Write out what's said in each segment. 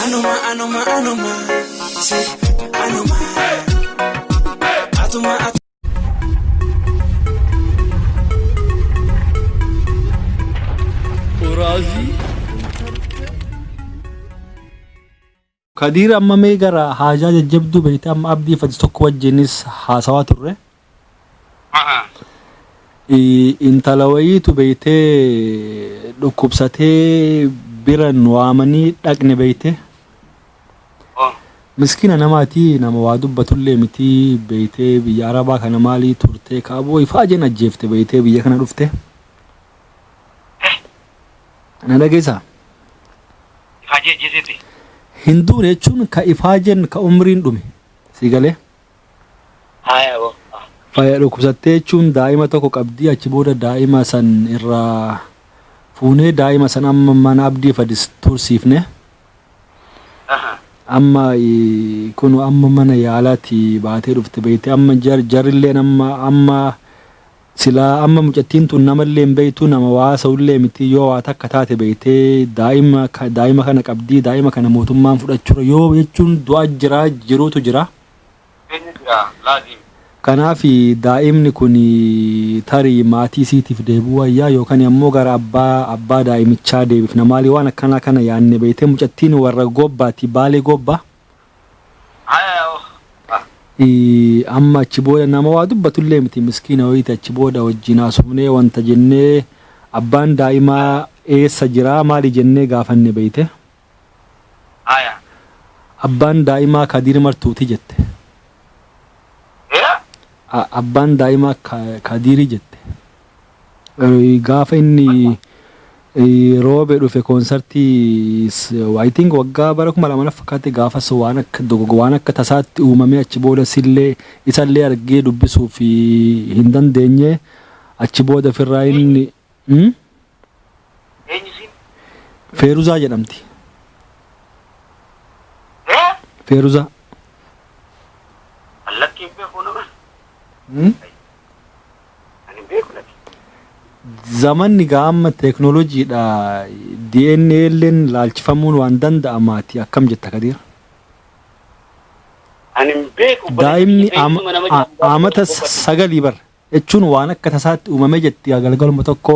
Anuma anuma anuma si anuma atuma atuma. Oraazii. Kadiir amma mee gara haajaa jajjabduu beekte amma abdii fati tokko wajjinis haasawaa turre Maha. Intala wayiitu beeytee dhukkubsatee bira nu waamanii dhaqne beeyte. Oh. Miskiina namaati nama waa dubbatullee miti beeytee biyya arabaa kana maalii turtee kaaboo ifaa jeen ajjeefte beeytee biyya kana dhufte. Na dhageessaa? Ifaajee ajjeeseeti. Hin duune jechuun ka ifaajeen ka umriin dhume sii galee. Haya boffa. Faya dhukubsattee jechuun daa'ima tokko qabdii achi booda daa'ima san irraa fuunee daa'ima san amma mana abdii fadis tursiifne Aha. amma eh, kunu amma mana yaalaati baatee dhufte beeyte amma jar jarrilleen amma amma silaa amma mucattiin tun namallee hin beeytu nama waa haasa'ullee miti yoo waa takka taate beeytee daa'ima ka- daa'ima kana qabdii daa'ima kana mootummaan fudhachuura yoo jechuun du'a jira jiruutu jira Eenyu jira laazim? Kanaaf daa'imni kun tarii maatii isiitiif deebi'uu wayyaa yookan ammoo gara abbaa abbaa daa'imichaa deebifna maalii waan akkanaa kana yaanne beeytee mucattiin warra goobbaati baalee goobbaa. Haya ya ukht. Amma achi booda nama waa dubbatullee miti miskiina wayiiti achi booda wajjin haasofnee wanta jennee abbaan daa'imaa eessa jiraa maalii jennee gaafanne beeyte. Aya. Abbaan daa'imaa Kadiir Martuuti jette. A, Abbaan daa'imaa Ka, Kadiiri jette. Eh, Gaafa inni eh, roobe dhufe koonsartii s- I think waggaa bara kuma lama na fakkaate gaafas waan akka dogogo waan akka tasaatti uumamee achi booda sillee isallee argee dubbisuuf eh, hin dandeenye achi booda firraa inni Hmm? Eenyu isiin? Feeruzaa jedhamti. Ee? Feeruzaa. Allatti hin beeku nama. Hmm? Ani hin beeku lati. Zamanni gaa amma teeknooloojiidha. DNA illeen laalchifamuun waan danda'amaati akkam jetta Kadiir? Ani hin beeku. Daa'imni ama- a- amata sagalii bar jechuun waan akka tasaatti uumame jetti yaa galgaluma tokko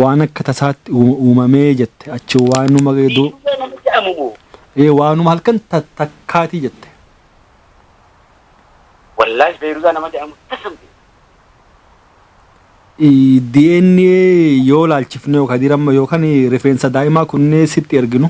waan akka tasaatti uuma- uumamee jette achi waanuma du- Biyyee nama jedhamu moo? ee, waanuma halkan ta- takkaatii jette Wallaahi Beeruuzaa nama jedhamu tasan beeku. Ii, DNA yoo laalchifne yookaan dirama yookaan rifeensa daa'imaa kunnee sitti erginu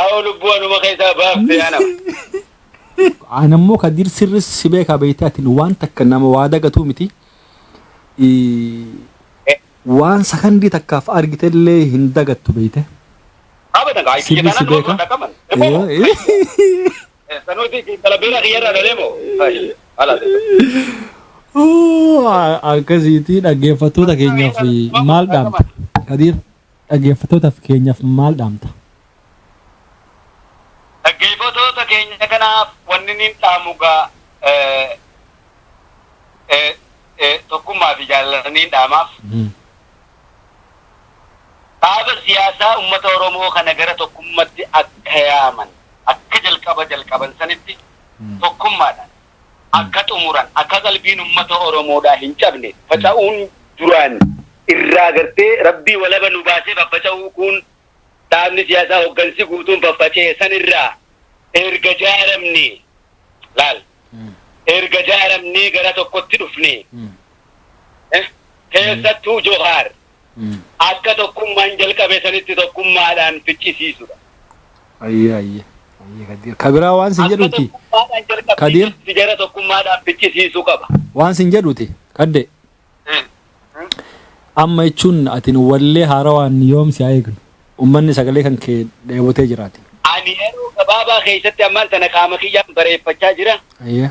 Awo lubbuu anuma keessaa baafte anam. An ammoo Kadiir sirri si beekaa beektee ati waan takka nama waa dagatuu miti. Waan sakandii takkaaf argitellee hin dagattu beekte. Abadan kaa itti Sirri si jetaan beeka. nama qaban. Sanuuti talabeera kiyyarraa dhalee moo? Haala Akkasiitii dhaggeeffattoota keenyaaf maal dhaamta? Kadiir. Dhaggeeffattootaf keenyaf maal dhaamta? Dhaggeefatoota keenya kanaaf wanni niin dhaamu gaa tokkummaa fi jaalala niin dhaamaaf. Dhaaba siyaasaa ummata Oromoo kana gara tokkummatti akka yaaman akka jalqaba jalqaban sanitti tokkummaadhaan akka xumuran, akka qalbiin ummata Oromoodhaa hin cabne, faca'uun duraan irraa agartee Rabbii walaba nu baasee faffaca'uu kuun dhaabni siyaasaa hoggansi guutuun faffaca'e san irraa erga jaaramnee, laal, erga jaaramnee gara tokkotti dhufnee, eh, keessattuu Johaar, akka tokkummaan jalqabe sanitti tokkummaadhaan ficcisiisudha. Ayye ayye ayye kadir ka biraa waan sin Akka jedhutti tokkummaadhaan jalqabbii kadir sanitti jara tokkummaadhaan ficcisiisuu qaba. waan sin jedhuti kadde amma jechuun atin wallee haarawaan yoom si haa eegnu ummanni sagalee kan kee dheebotee jiraati. Ani yeroo gabaabaa keessatti ammaan tana qaama kiyyaan bareeffachaa jira. Ayye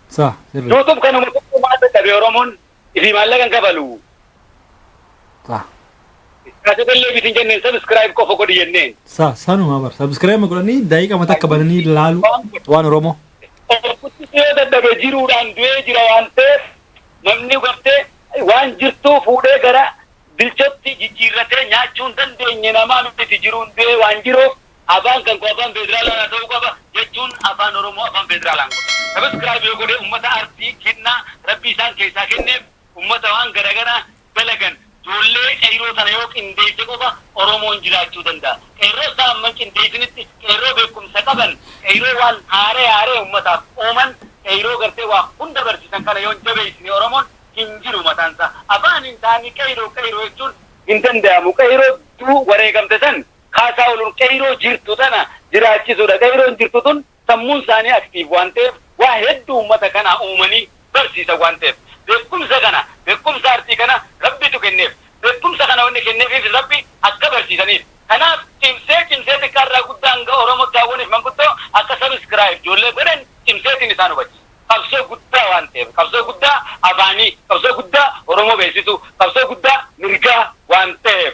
Sah sirri. YouTube kanuma tokko maal dadhabe Oromoon ifii maallaqa hin kafalu. Sah. Kaasifallee bitin jenneen subscribe qofa godhi jenneen. Sah sanuma bar. Subscribe godhanii daqiiqama takka bananii laalu waan Oromoo. Orkutti yoo dadhabe jiruudhaan du'ee jira waan ta'eef namni gartee waan jirtuu fuudhee gara bilchotti jijjiirratee nyaachuu hin dandeenye namaa miti jiruun du'ee waan jiruuf Afaan kan koo afaan feedraalaa naa ta'uu qaba jechuun afaan oromoo afaan feedraalaan godha. Subscribe yoo godhe ummata arsii kennaa rabbi isaan keessaa kenneef ummata waan garagaraa dalagan joollee qeyroo tana yoo qindeesse qofa oromoon jiraachuu danda'a. Qeerroo isaa amma hin qindeessinitti qeerroo beekumsa qaban qeyroo waan haaree haaree ummataaf uuman qeyroo gartee waa hunda barsiisan kana yoo hin jabeessine oromoon hin jiru mataan isaa. Afaaniin isaanii qeyroo qeyroo jechuun hin danda'amu. Qeyroo du wareegamte san Kaasaahun Qeeyroo jirtu tana jiraachisuudha. Qeeyroon jirtu tun sammuun isaanii active waan ta'eef waa hedduu ummata kanaa uumanii barsiisan waan ta'eef. Beekkumsa kana, beekkumsa artii kana Rabbitu kenneef. Beekkumsa kana wanni kenneefiifis Rabbi akka barsiisaniif. Kanaaf cimsee cimsee xiqqaa irraa guddaa hanga Oromo Daawwaniif Manguddoo akka subscribe ijoollee godhan cimseetiin isaan hubachiisa. Qabsoo guddaa waan ta'eef. Qabsoo guddaa afaanii, qabsoo guddaa Oromoo beeksisuu, qabsoo guddaa mirgaa waan ta'eef.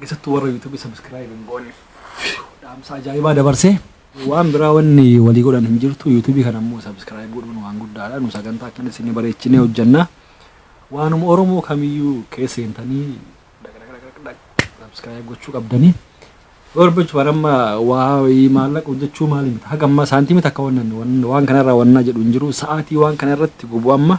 keessattuu warra yuutuubii sabiskiraayib hin goonne dhaamsa ajaa'ibaa dabarsee waan biraa wanni walii godhan hin jirtu yuutuubii kana immoo sabiskiraayib godhuun waan guddaadha nu sagantaa akkana isin bareechinee hojjannaa waanuma oromoo kamiyyuu keessa seentanii sabiskiraayib gochuu qabdanii barbachu baramma waa maallaqa hojjechuu maali miti haga ammaa saantiimii takka wannan waan kanarraa wannaa jedhu hin jiru sa'aatii waan kanarratti gubu amma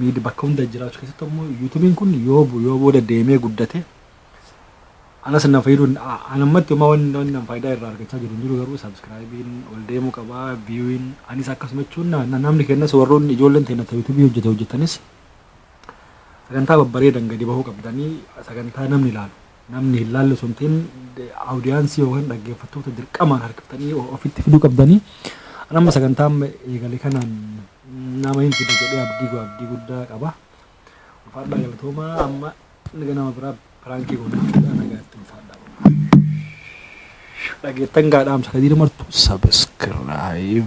miid bakka hunda jiraachuu keessatti immoo yuutubiin kun yoo bu- yoo booda deemee guddate anas na fayyadu anammatti homaa wanni wanni nan faayidaa irraa argachaa jiru hin jiru garuu sabskraayibiin ol deemuu qaba biyuun anis akkasuma jechuun na- na- namni kennas warroonni ijoolleen teenya ta yuutubii hojjete hojjetanis sagantaa babbareedan gadi bahuu qabdanii sagantaa namni ilaalu namni hin laalle osoo hin ta'in awudiyaansii yookaan dhaggeeffattoota dirqamaan harkiftanii ofitti fiduu qabdanii. Nama sagantaa amma eegale kanaan nama hin fide jedhee abdii goo abdii guddaa qaba. Ulfaadhaa galatoomaa amma naga nama biraa piraankii goonaa fuudhaa nagaatti ulfaadhaa. Dhageettan gaadhaamsa kadiir martu sabiskiraayib.